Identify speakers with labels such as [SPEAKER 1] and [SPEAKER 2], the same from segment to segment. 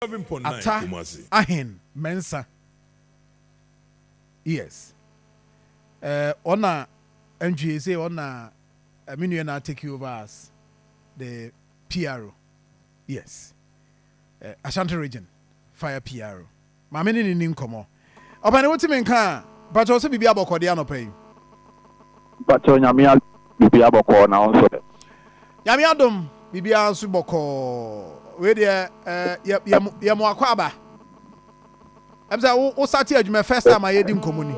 [SPEAKER 1] Ata Ahen Mensah yes eh, ɔna ntwie se ɔna eh, me nua na take over as the PRO yes eh, Ashanti region fire PRO maame ne ne ni nkɔmɔ. Ɔpɛni wotumi nka a? Mpakyɛw sɛ biribiara bɔkɔɔ deɛ anɔpa yi?
[SPEAKER 2] Mpakyɛw Nyame adom biribiara bɔkɔɔ na wo nso ɛ? Nyame
[SPEAKER 1] adom biribiara nso bɔkɔɔ wei deɛ eh, yɛ yɛ mo akwaaba ɛm sɛ wo wo sate adwuma first time a yɛdi nkɔmɔ ni.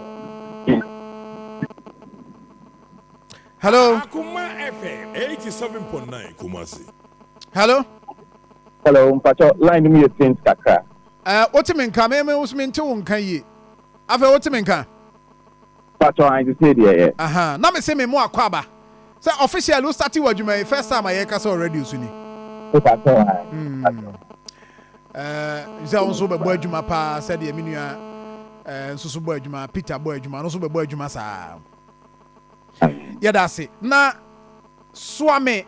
[SPEAKER 1] Hello. Akoma
[SPEAKER 3] FM 87.9 Kumasi. Hello.
[SPEAKER 1] Hello,
[SPEAKER 2] mpakyɛw line no mu yɛ faint kakra. Eh wo te me nka
[SPEAKER 1] me me nso me nte wo nka yie afei wo te me nka. Pakyɛw
[SPEAKER 2] ahe sesei deɛ ɛ. Ahaa na mese me mo
[SPEAKER 1] akɔ aba sɛ officially wo starte wɔ adwuma yi first time a yɛreka sɛ wɔ radio so ni. Me pakyɛw
[SPEAKER 2] ahe
[SPEAKER 1] pakyɛw. Eh sɛ wo nso bɛbɔ adwuma paa sɛdeɛ me nua eh nso so bɔ adwuma Peter bɔ adwuma no nso bɛbɔ adwuma saa. Yɛda ase na soa me.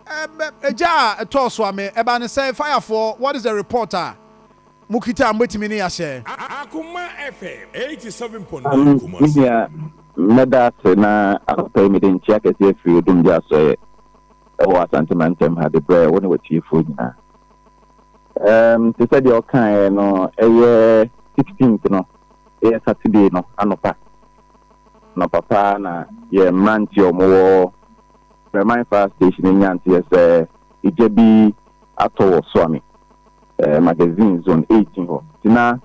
[SPEAKER 1] Ɛbɛ egya a ɛtɔɔ so a me ɛba ne sɛn fire foɔ what is the report a mo kita a mo bɛtumi ne yahyɛ. Akoma
[SPEAKER 3] FM eighty seven point nine Amen me Kumasi. nua mɛda
[SPEAKER 2] ase na anɔpa yi mede nkyea kɛseɛ afiri Odumgya Asoɛeɛ ɛwɔ Asante Mantam ha de brɛ wo ne w'atiefoɔ nyinaa. Ɛɛm te sɛ deɛ ɔkaeɛ no ɛyɛ sixteenth no ɛyɛ Saturday no anɔpa. Anɔpa paa na yɛn mmeranteɛ a wɔwɔ Bermain Fire Station no nyaa nteɛ sɛ egya bi atɔ wɔ Soame Magazine Zone Eighteen hɔ, nti na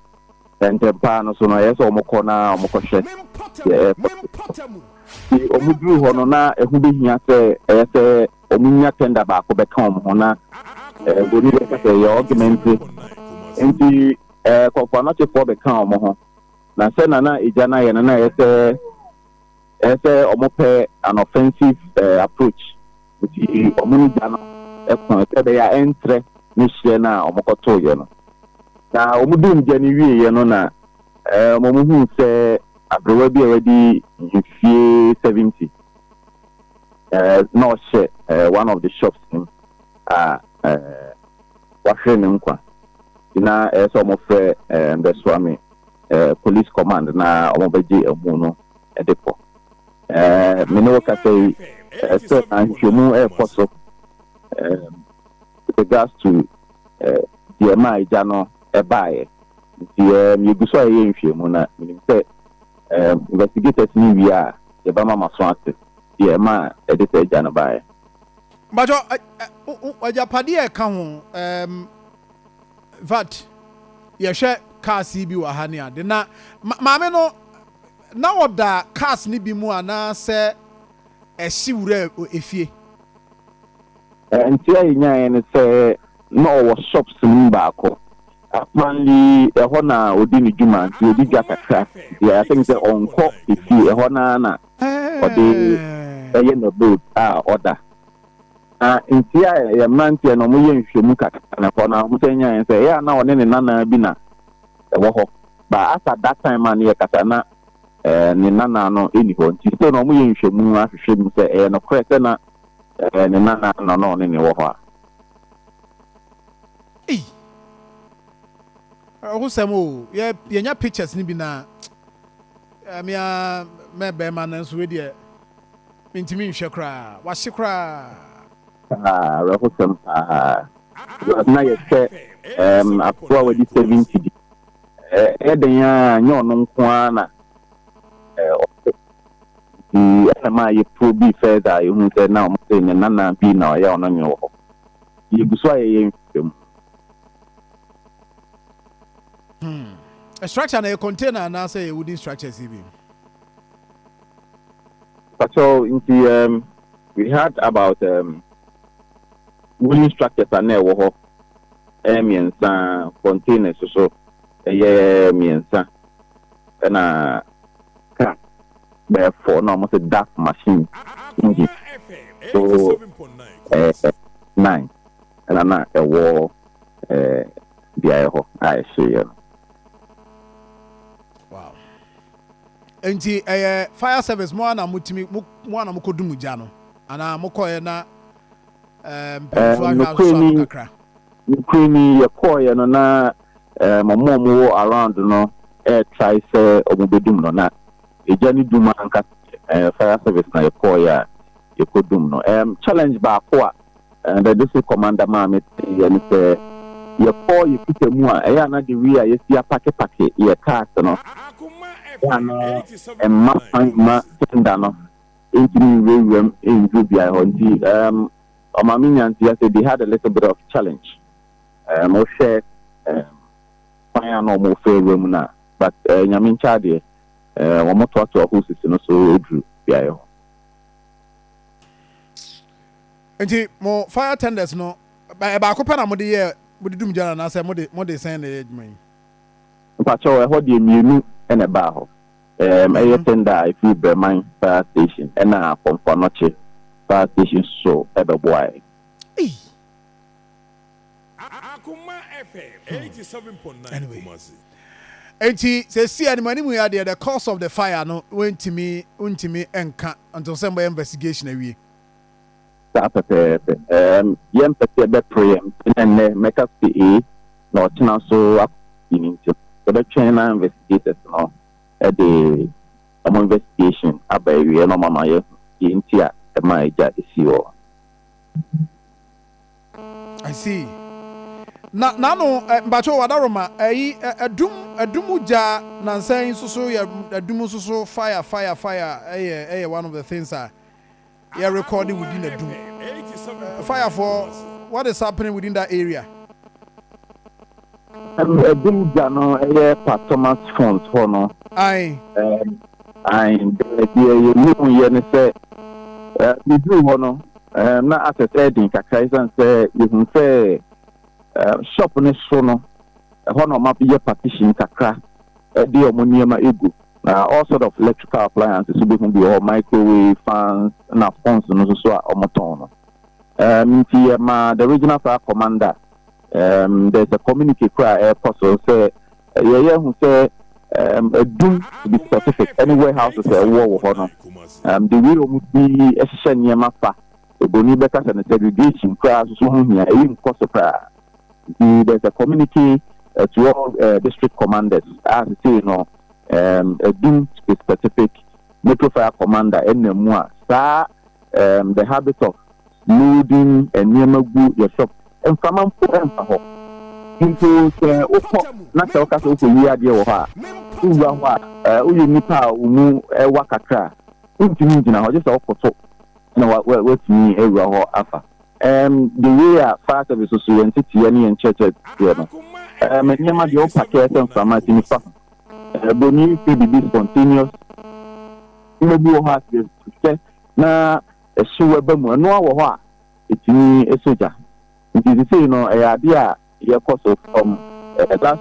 [SPEAKER 2] ntɛm paa no so no ɛyɛ sɛ wɔkɔ na wɔkɔhwɛ deɛ ɛrekɔ so. Nti wɔduruu hɔ no, na ɛho bɛhia sɛ ɛyɛ sɛ wɔnya tender baako bɛka wɔn ho, na Buroni bɛka sɛ ɛyɛ ɔgmente, nti Kɔmfoanoakyefoɔ bɛkaa wɔn ho. Na sɛ na na egya no ayɛ no na ɛyɛ sɛ ɛyɛ sɛ wɔpɛ an offensive eh, approach nti wɔn ne gya no ko sɛ ɛbɛyɛ a ɛntrɛ ne hyeɛ no a wɔkɔtoeɛ no. Na wɔn duu gya no wieeɛ no na eh, wɔn huu sɛ aberewa bi a wadi mfie 70 eh, na ɔhyɛ eh, one of the shops no a eh, wahwere ne nkwa nti na ɛyɛ sɛ wɔfrɛ eh, mbɛsoa me eh, police command na wɔn bɛgye amu no de kɔ. Eh, me ne wo kasa yi, eh, sɛ ahwehwɛmu ɛrekɔ so eh, regards to eh, deɛ ma agya no ɛbaeɛ. Nti eh, yɛgu so a yɛyɛ nhwehwɛmu na menim sɛ eh, investigators ne wie a yɛbɛma ma so ase deɛ ɛma ɛde sɛ agya no baeɛ. But
[SPEAKER 1] agyapadeɛ ɛka ho um, In fact, yɛhwɛ cars yi bi wɔ ha ne ade na maame no na ɔda cars no bi mu anaasɛ ɛhye wura efie. Nte
[SPEAKER 2] a yɛnyaeɛ ne sɛ na ɔwɔ shops no mu baako. Apparently ɛhɔ na ɔdi ne dwuma nti ɔdi dwa kakra nti I think sɛ ɔnkɔ efie, ɛhɔ no ara na ɔde ɛyɛ n'abode a ɔda. Na mfeɛ a yɛ mmeranteɛ no wɔyɛ nhwɛmu kakra na ɛhɔ na wɔn sɛ nyaeɛ sɛ ɛyɛ a na ɔne ne nana bi na ɛwɔ hɔ but as at that time a ne yɛ kasa na ɛɛ ne nana no ɛni hɔ nti still na wɔn yɛ nhwɛmu ahwehwɛ mu sɛ ɛyɛ nokorɛ sɛ na ɛɛ ne nana na na ɔne ne wɔ hɔ a. Ei!
[SPEAKER 1] Ɛhosɛm o, yɛ yɛnya pictures no bi na ɛmea mɛ bɛrima no nso wei deɛ Mintumi nhwɛ koraa. Wase koraa. Paa,
[SPEAKER 2] awerɛhosɛm paa. Because na yɛhwɛ um, akoa a wadi 70 bi. Ɛyɛ dɛn a, nyɛ ɔno nko ara na ɔte. Nti ɛna maa yɛ probe further a yɛhu sɛ na wɔn sɛ ne nana bi na ɔyɛ ɔno nwe wɔ hɔ. Yɛgu so a yɛyɛ nhwehwɛ mu.
[SPEAKER 1] Hmm. A structure na yɛ container anaasɛ yɛ wooden structures yi bi?
[SPEAKER 2] Patrol nti um, we had about um, wooden structures a na ɛwɔ hɔ ɛyɛ mmiɛnsa, containers so ɛyɛ mmiɛnsa, ɛna car bɛyɛ four na wɔn sɛ DAF machine engine so ɛɛ nine ɛna na ɛwɔ ɛɛ beaeɛ hɔ a ɛhyeeɛ no.
[SPEAKER 1] Enti ɛyɛ fire service mo ara na mo tumi mo mo ara na mo kɔ dum gya no anaa mo kɔɛ na ɛɛ mpanyinfoɔ ahwɛ asosɔ ano kakra. Nukuri
[SPEAKER 2] ni yɛ kɔɔyɛ no na ɛɛ ɔmo a ɔmo wɔ around no ɛɛtrae sɛ ɔmo bɛ dum no na egya ne dum ankasa ɛɛ fire service na yɛ kɔɔyɛ a yɛ kɔ dum no ɛɛm challenge baako a. And the district commander maa me teeɛ ne sɛ yɛkɔɔ yɛ kita mu a ɛyɛ a na the way a yɛsi apake pake yɛ cars no ɛyɛ a na ɛmma kwan mma tender no ntumi nwurawura mu nduru beaɛ hɔ nti um, ɔma me nya nteɛ sɛ they had a little bit of challenge um, wohwɛ um, kwan a na ɔmo fɛ wura mu no but uh, nyame nkyɛ adeɛ uh, wɔn toatoa ho sisi no so ɛduru beaɛ hɔ
[SPEAKER 1] Nti mo fire tenders no ɛbaako pɛ na mo de yɛ mo de dum gya no anaasɛ mo de mo de sɛn na ɛyɛ adwuma yi? Mpakyɛw
[SPEAKER 2] ɛhɔ deɛ mmienu na ɛbaa hɔ. Ɛɛm ɛyɛ tender a ɛfiri Brɛman fire station ɛna Kɔmfo Anɔkye fire station nso ɛbɛboaɛ. Eii.
[SPEAKER 3] Akoma FM eighty seven point nine
[SPEAKER 1] Kumasi. Nti sɛsi anim anim yi adeɛ the cause of the fire no wɛntumi wontumi nka until sɛ mobɛyɛ investigation awie. Saa pɛpɛɛpɛ.
[SPEAKER 2] Ɛɛm, yɛmpɛ sɛ yɛbɛpere yɛn nti na nnɛ mɛka sɛ A na ɔkyena nso akɔ B no nti no, yɛbɛtwɛn na investigators no de wɔn investigation aba awieɛ na wɔama yɛahu deɛ nti a ɛmaa agya sii hɔ.
[SPEAKER 1] I see. Na n'ano ɛ mpakyɛw adaroma ɛyi ɛ ɛdum ɛdum gya nansa yi nso so yɛ ɛdum nso so fire fire fire ɛyɛ ɛyɛ one of the things a. yɛ rekɔɔde within a dum fire fɔ what is happening within that area.
[SPEAKER 2] Um, ɛdum gya no ɛyɛ pa thomas fons hɔ no
[SPEAKER 1] ae um, ae deɛ
[SPEAKER 2] yɛhu yɛ ne sɛ uh, meduru hɔ no um, na asɛ sɛ ɛden kakra ɛsiane sɛ yɛhu sɛ uh, shop no so no ɛhɔ na ɔma yɛ partition kakra ɛde ɔmo nneɛma egu Na all sort of electrical appliances wo bɛhu bi wɔ hɔ, microwave, fans, ɛna phones no nso a wɔtɔn no. Um, nti yɛmaa the regional fire commander, um, there's a communique koraa a ɛrekɔ so sɛ yɛyɛ hu sɛ um, adum to be specific ɛne warehouses a ɛwowɔ wɔ hɔ no um, de wei wɔn ti hyehyɛ nneɛma fa. Eboni bɛka sɛ no segregation koraa nso ho hia, ɛyi nkɔ so koraa. Nti there's a community uh, to all uh, district commanders a sesei no um, adum specific metro fire commander ɛnam mu a saa um, the habit of loading nneɛma gu yɛ shop mframa mpo ɛmfa hɔ mpo sɛ wokɔ na sɛ woka sɛ wokɔwie adeɛ wɔ hɔ a wowura hɔ a woyɛ nnipa a wo mu ɛwa kakra a wontumi ngyina hɔ gye sɛ wokɔ so na woatumi awura hɔ afa Um, the way a fire service so yɛn teteɛ ne yɛn kyerɛkyerɛ teɛ no, um, nneɛma deɛ ɔpa kɛɛ sɛ mframa ti nifa ho. Uh, Broni fɛ biribi spontaneous. Nneɛma bi wɔ hɔ a sɛ sɛ na ɛhye wɛba mu ɛno wɔ hɔ a ɛtumi ɛsɔ gya. Nti sisei no ɛyɛ adeɛ a yɛkɔ so fam ɛda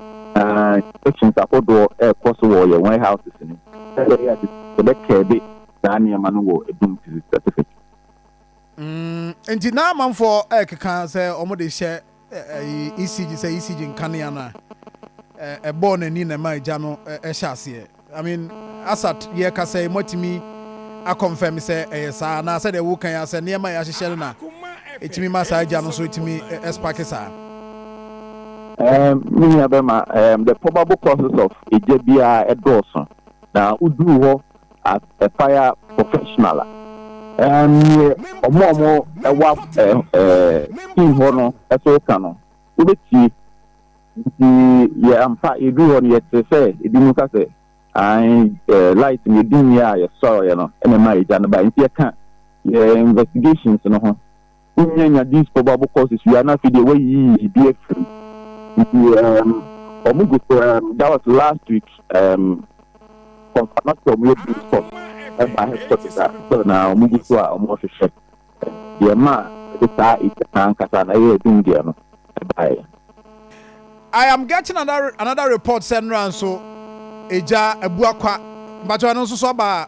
[SPEAKER 2] sections ahodoɔ ɛkɔ so wɔ yɛn warehouses no. Ɛbɛkɛɛbe saa nneɛma no wɔ ɛdum specific.
[SPEAKER 1] Mm, nti na amanfoɔ ɛkeka sɛ wɔn de hyɛ ɛyi ECG sɛ ECG nkanea no a ɛbɔɔ n'ani na ɛma egya no ɛhyɛ aseɛ. I mean, Asat yɛ kasa yi moatumi akɔnfɛm sɛ ɛyɛ saa na sɛdeɛ wokan yi asɛ nneɛma yɛ ahyehyɛ no na ɛtumi ma saa egya no nso ɛtumi ɛspake saa. Um,
[SPEAKER 2] me nua bɛma um, the probable causes of egya biara ɛdɔɔso na woduru hɔ as a fire professional a, um, neɛ ɔmo a ɔmo ɛwɔ ɛɛ ɛɛ team hɔ no ɛso ka no, wobɛtie. Nti yɛ ampa yɛduru hɔ no yɛte sɛ ebi mu ka sɛ, ae, ɛɛ light no yɛdi nneɛ a yɛsɔrɔeɛ no ɛna ɛma egya no bae. Nti yɛka yɛ investigations no ho Wonnya nya these four Bible courses wie a na afei deɛ woayiyi bi afiri mu. Nti um, wɔn gu so um, that was last week um, kɔnfa na sɛ wɔn yɛ base course ɛba headquarters a sɛ na wɔn gu so a wɔn rehwehwɛ deɛ ma ɛde saa ɛdi saa nkasa na ɛyɛ ɛdum deɛ no ɛbaeɛ. I am getting
[SPEAKER 1] another, another report sɛ nnora nso egya abua kwa mpakyɛ ɛno nso so aba a.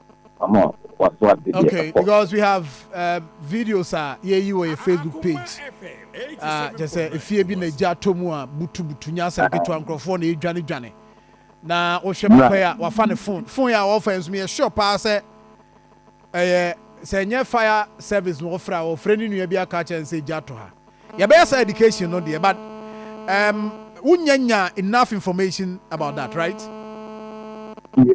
[SPEAKER 1] Okay, because we have uh, videos a yɛyi wɔ yɛ facebook page uh, kyɛ sɛ efie bi na egya atɔ mu a butubutu nya asɛm ketewa nkurɔfoɔ na edwane dwane na wohwɛ papa yi a wafa ne phone phone yi a wɔfa nso yɛ sure paa sɛ ɛyɛ sɛ nyɛ fire service na wɔfrɛ a wɔfrɛ ne nua bi aka kyɛn sɛ egya atɔ ha yɛbɛyɛ sɛ education no deɛ but um, wonya nya enough information about that right. Yeah.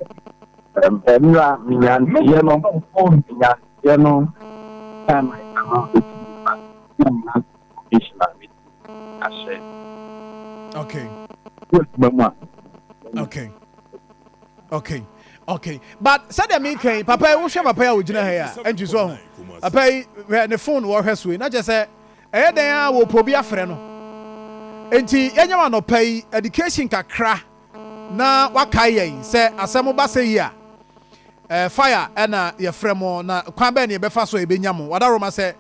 [SPEAKER 1] Mmra me nyansayɛ no oh me nyansayɛ no Time I cannot wait to be back Time na me information a me de ahyɛ Okay Wɔ adwuma mu a Okay Okay Okay but sɛdeɛ me kan papa yi wohwɛ papa yi a ogyina ha yi a ɛnti so ho papa yi hwɛ ne phone wɔhwɛ so yi na kyɛ sɛ ɛyɛ dɛn a wɔ pɔ bi afrɛ no nti yɛnyɛ wɔn anɔpa yi education kakra Na wakae yɛn sɛ asɛ mo ba sɛ yi a, eh, fire ɛna yɛfrɛ mo, na kwan bɛn ne yɛbɛfa so a yɛbɛnya mo? Wadaroma sɛ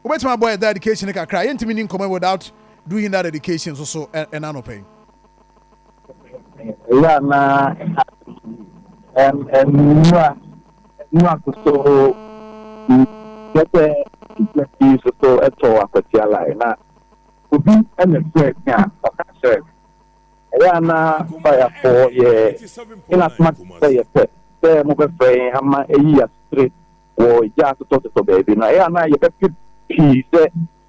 [SPEAKER 1] wobɛtumi abɔ yɛ da education no kakra a, yɛntumi nni nkɔmmɔ yi without doing that education nso so ɛna anɔpa yi.
[SPEAKER 2] Ɛyɛ a na ɛha ɛm ɛm nnua nnua koso ho yɛ sɛ nnua pii soso ɛtɔ akwatia lai na obi ɛna fɛ bi a ɔka kyerɛ Ɛyɛ a na Fayafɔɔ yɛ hena soma te sɛ yɛ pɛ sɛ mobɛfrɛ yɛn ama ayi yɛ asetire wɔ gya asotɔsotɔ baabi no? Ɛyɛ a na yɛbɛpɛ pii sɛ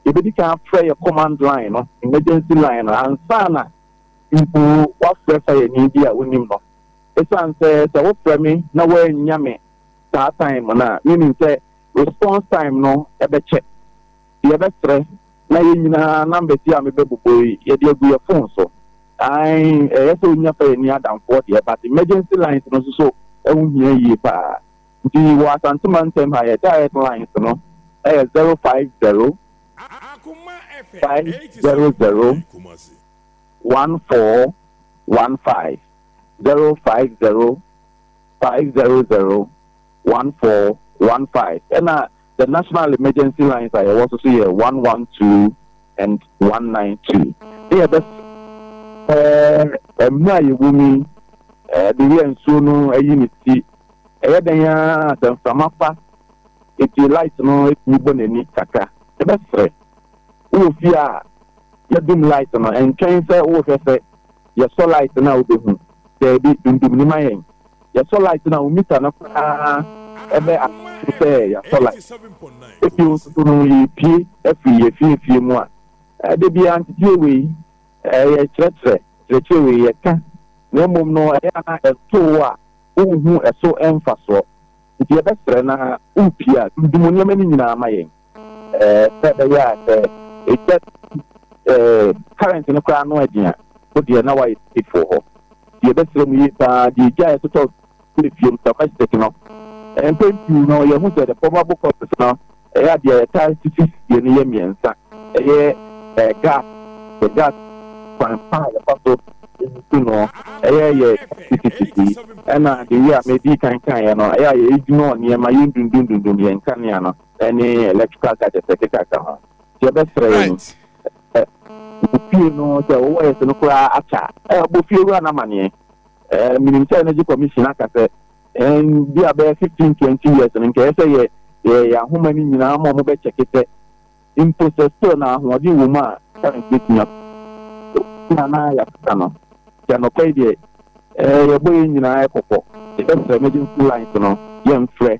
[SPEAKER 2] yɛbɛdi kan afrɛ yɛ command line no, emergency line no, ansa na mpo wɔafrɛ fayani bi a wonim no. Ɛsiane sɛ sɛ wofrɛ me na wɔannya me saa time no a, menim sɛ response time no bɛkyɛ. Yɛbɛsrɛ na yɛn nyinaa numbers yi a mebɛbobɔ yi yɛde agu yɛn phone so. Ae, ɛyɛ sɛ onya fa yɛn ani adamfoɔ deɛ but emergency lines no nso so ɛho hia yie paa. Nti wɔ Asante mantam ha yɛn direct lines no ɛyɛ zero five zero,
[SPEAKER 3] five zero zero,
[SPEAKER 2] one four one five, zero five zero, five zero zero, one four one five ɛna The National Emergency Lines a yɛwɔ so so yɛ one one two and one nine two. Ne yɛbɛ Ɛɛ, mmerɛ a yɛwɔ mu yi, ɛde yɛ nsuo no ayi ne ti. Ɛyɛ dɛn ara a, sɛ mframa fa eti light no tumi bɔ n'ani kakra. Yɛbɛsrɛ, wowɔ fie a yɛdum light no, ntwɛn sɛ worehwɛ sɛ yɛsɔ light no a wobɛhu. Daabi, dundum no ma yɛn. yɛsɔ light na mita no koraa ɛbɛ ase sɛ yɛasɔ light ebi nso so no yɛpie afiri yɛfie fie mu a ɛde bi anteteɛ wei ɛyɛ kyerɛkyerɛ kyerɛkyerɛ wei yɛka na mmom no ɛyɛ ana ɛtoo a wohu ɛso ɛmfa soɔ nti yɛbɛsrɛ na wopie a dundum nneɛma no nyinaa ma yɛn Ɛɛ, sɛ ɛbɛyɛ a, sɛ egya ɛɛ current no koraa ano den a, wo deɛ na woayɛ safefoɔ hɔ. Deɛ ɛbɛsrɛ mu yie paa, deɛ egya a ɛtotɔ gu efie mu, domestic no, mpɛn pii no yɛhu sɛ the probable causes no, ɛyɛ a deɛ ɛtaa sisi sie no yɛ mmiɛnsa. Ɛyɛ ɛɛ gas, yɛ gas kwan pa a yɛfa so nsu no, ɛyɛ yɛ sisisisi, ɛna deɛ wei a medii kan kaeɛ no, ɛyɛ a yɛdwinɔɔ nneɛma, yɛndundundundun yɛn nkanea no. ɛne electrical gadgets ɛkekaka ho nti ɛbɛsrɛ yɛn right ɛ fie no sɛ wɔwɔ yɛse no koraa akya ɛ ɔbɔ fie wura no amaneɛ ɛ menim sɛ energy commission aka sɛ ɛn bi a bɛyɛ 15 20 years no nkɛyɛ sɛ yɛ yɛ yɛ ahoma no nyinaa ma ɔmo bɛkyɛke sɛ mpo sɛ still na ahoɔden wɔ mu a current bɛtumi a na na yɛakasa no sɛ nɔkɔe deɛ ɛ yɛbɔ yɛn nyinaa ɛkɔkɔ yɛbɛsrɛ emergency lines no yɛmfrɛ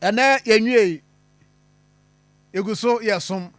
[SPEAKER 1] Ɛnnɛ yɛnwiei, yɛgu so yɛ som.